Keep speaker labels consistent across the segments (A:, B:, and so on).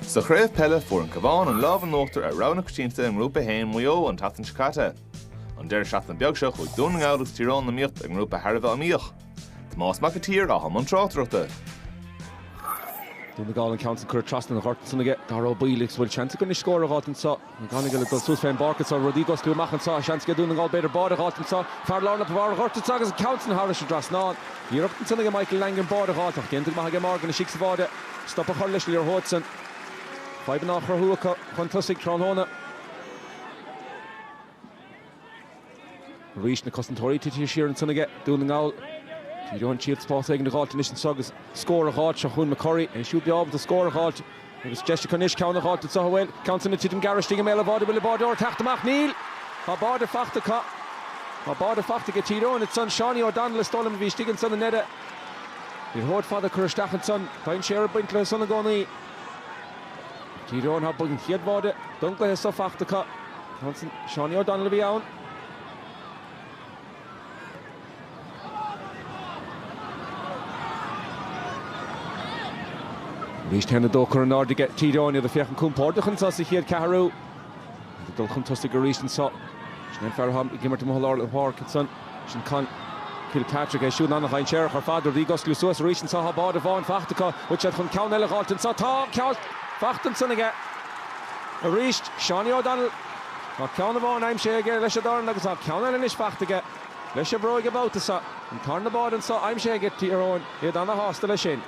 A: Sa chraobh peile, fuair an Cabhán an lámh in uachtar ar rogha na coitianta i nGrúpa 1 Mhaigh Eo an tseachtain seo caite. An deireadh seachtaine beag seo chuaigh Dún na nGall agus Tír Eoghain in iomaíocht i ngrúpa thar a bheith iomaíoch. Tomás Mac an tSaoir atá i mbun tráchtaireachta. Dún
B: na nGall an ceann san curtha trasna an ghoirt ansan aige Darragh Ó Baoill agus bhfuil seans aige scór a dh'fháilt anso. McGonagle ag dul suas fén bpáirc anso, rudaí ag osclú amach anso, seans aige Dún na nGall b'fhéidir báide dh'fháilt anso, fear lár na bharr ghoirt anso agus an ceann san thairis an dtrasnán. Iarracht ansan aige Michael Langan báide a dh'fháilt ach déanta go maith aige Morgan istigh sa bháide stop a chur leis an liathróid san. Fadhbanna á chruthú acu chun tosaigh tráthnóna. Arís, na cosantóirí tite siar ansan aige Dún na nGall. Tír Eoghain ag triail spás éigin a dh'fháilt anois anso agus scór a dh'fháilt. Seo chugainn McCurry, é siúd breá ábalta scór a dh'fháilt agus deis acu anois ceann a dh'fháilt anso an bhfuil an ceann san ag titim gearr istigh i mbéal an bháide an bhfuil an báideoir ag teacht amach níl. Tá báide fachta acu. Tá báide fachta aige Tír Eoghain ansan. Seánie O'Donnell is dóigh liom a bhí istigh ansan i ndeireadh. Liathróid fhada curtha isteach ansan. Tá dainséar ag baint leo san i gcónaí ag Tír Eoghain. Tá an chéad bháide don gcluiche so fachta acu. Ansan, Seánie O'Donnell a bhí ann. Arís 1-2 curtha in airde aige Tír Eoghain iad ag féachaint compordach anso sa chéad ceathrú. Iad ag dul chun tosaigh arís anso. Sin é an fear atá ag imirt i lár na páirce ansan. Sin Conn Kilpatrick é siúd ana-dhainséarach ar fad, rudaí ag osclú suas arís anso tá báide amháin fachta acu, bhfuil siad chun ceann eile a dh'fháilt anso tá ceann eile fachta ansan aige arís, Seánie O'Donnell, tá ceann amháin aimsithe aige leis a dhorn agus tá ceann eile anois fachta aige leis a bhróig an babhta so, an tarna báide anso aimsithe aige Tír Eoghain iad ana-shásta leis sin.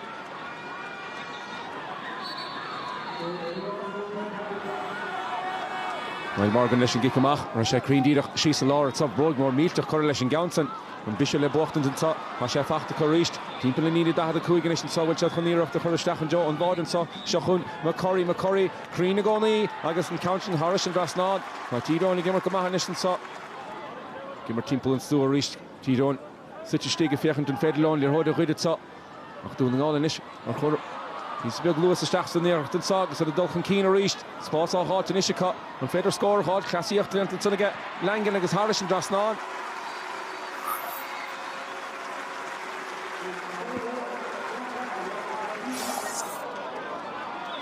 B: Niall Morgan leis an gcic amach. Raghaidh sé cruinn díreach síos i lár anso bróig mhór mhillteach curtha leis an gceann san. An briseadh le buachtaint anso. Tá sé fachta acu arís. Timpeall na líne 45 anois anso bhfuil siad chun iarracht a chur isteach i dtreo an bháide anso. Seo chugainn McCurry. McCurry cruinn i gcónaí agus an ceann san thairis an dtrasnán. Tá Tír Eoghain ag imirt go maith anois anso. Ag imirt timpeall an stua arís Tír Eoghain. suite istigh ag féachaint an féidir leo an liathróid a ghoid anso ach Dún na nGall anois ag cur píosa beag luas isteach san iarracht anso agus iad ag dul chun cinn arís spás á dh'fháilt anois acu an féidir scór a dh'fháilt cleasaíocht déanta ansan aige Langan agus thairis an dtrasnán.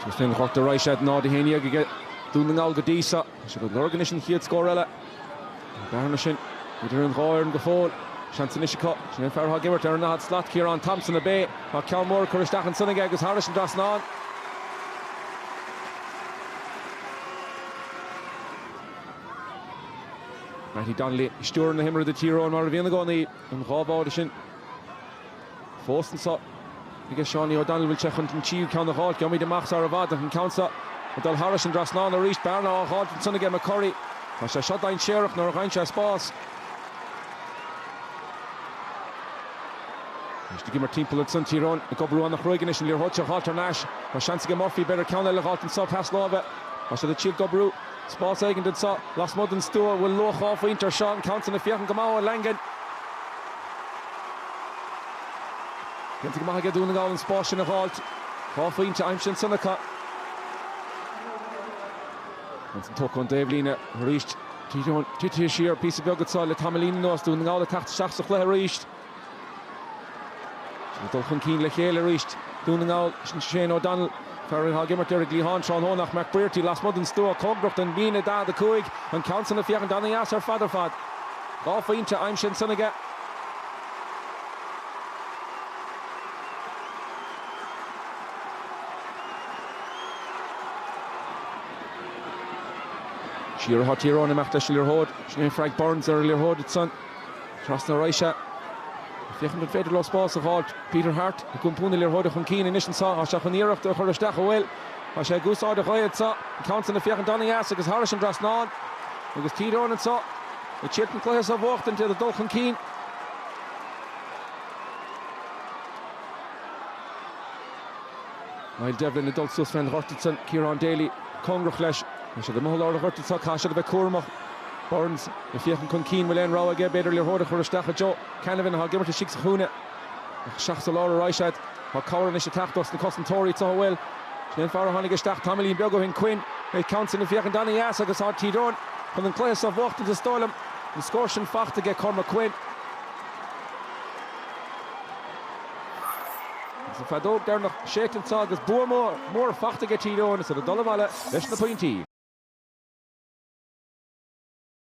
B: Agus féin a chrochtar arís é 0-11 aige Dún na nGall go dtí seo. Tá siad ag lorg anois an chéad scór eile. Tá an bhearna sin idir an dhá fhoireann go fóill. Seans anois acu. Sin an fear atá ag imirt ar an ndaichead slat, Ciarán Thompson, ab é. Tá ceann mór curtha isteach ansan aige agus thairis an dtrasnán. Mattie Donnelly ag stiúradh na himeartha do Thír Eoghain mar a bhíonn i gcónaí. An dhá bháide sin. fós anseo aige Seánie O'Donnell, bhfuil sé chun an tríú ceann a dh'fháilt? Gheobhaimid amach sara bhfad ach an ceann seo ag dul thairis an dtrasnán arís. Bearna á dh'fháilt ansan aige McCurry. Tá sé seo dainséarach nuair a dh'fhaigheann sé spás. Anois ag imirt timpeall ansan, Tír Eoghain ag oibriú an-chruaidh anois, an liathróid seo dh'fháilt thar n-ais. Tá seans aige Murphy, b'fhéidir ceann eile a dh'fháilt anso, pas láimhe. Tá siad ag triail d'oibriú spás éigin anso lasmuigh den stua, bhfuil luach dhá phointe ar seo, an ceann san ag féachaint go maith ó Langan. Déanta go maith aige Dún na nGall an spás sin a dh'fháilt. Dhá phointe aimsithe ansan acu. An ceann san tógtha ón dtaobhlíne arís. Tite siar píosa beag anseo le tamaillín anuas. Dún na nGall ag teacht isteach sa chluiche arís. Ag dul chun cinn le chéile arís Dún na nGall. Sin Shane O'Donnell. Fear atá ag imirt ar an gcliathán tráthnóna ach McBrearty lasmuigh den stua cóngarach don líne 45, an ceann san ag féachaint an-deas ar fad ar fad. Dhá phointe aimsithe ansan aige. Siar atá Tír Eoghain, ag imeacht leis an liathróid. Sin é Frank Burns ar an liathróid ansan. Trasna a raghaidh sé, ag féachaint an féidir leo spás a dh'fháilt. Peter Harte ag iompú na liathróide chun cinn anois anseo. Tá sé chun iarracht a chur isteach an bhfuil. Tá sé ag úsáid na gaoithe anseo. An ceann sin ag féachaint an-dheas agus thairis an trasnán. Agus Tír Eoghain anseo ag triail an cluiche seo a bhuachtaint, iad ag dul chun cinn. Niall Devlin ag dul suas fén ghort ansan, Kieran Daly cóngarach leis. Tá siad amuigh i lár an ghoirt ansan, caithfidh siad a bheith cúramach. Burns ag féachaint chun cinn, bhfuil aon rogha aige, b'fhéidir liathróid a chur isteach i dtreo Canavan atá ag imirt istigh sa chúinne. Ach isteach sa lár a raghaidh siad. Tá cabhair anois ag teacht dos na cosantóirí, togha bhfuil. Sin é an fear a tháinig isteach tamaillín beag ó shin, Quinn. An ceann san ag féachaint ana-dheas agus tá Tír Eoghain chun an cluiche seo a bhuachtaint is dóigh liom. An scór sin faighte aige, Cormac Quinn. Agus an feadóg deireanach séidte anseo agus bua mór faighte aige Tír Eoghain is iad ag dul abhaile leis na pointí.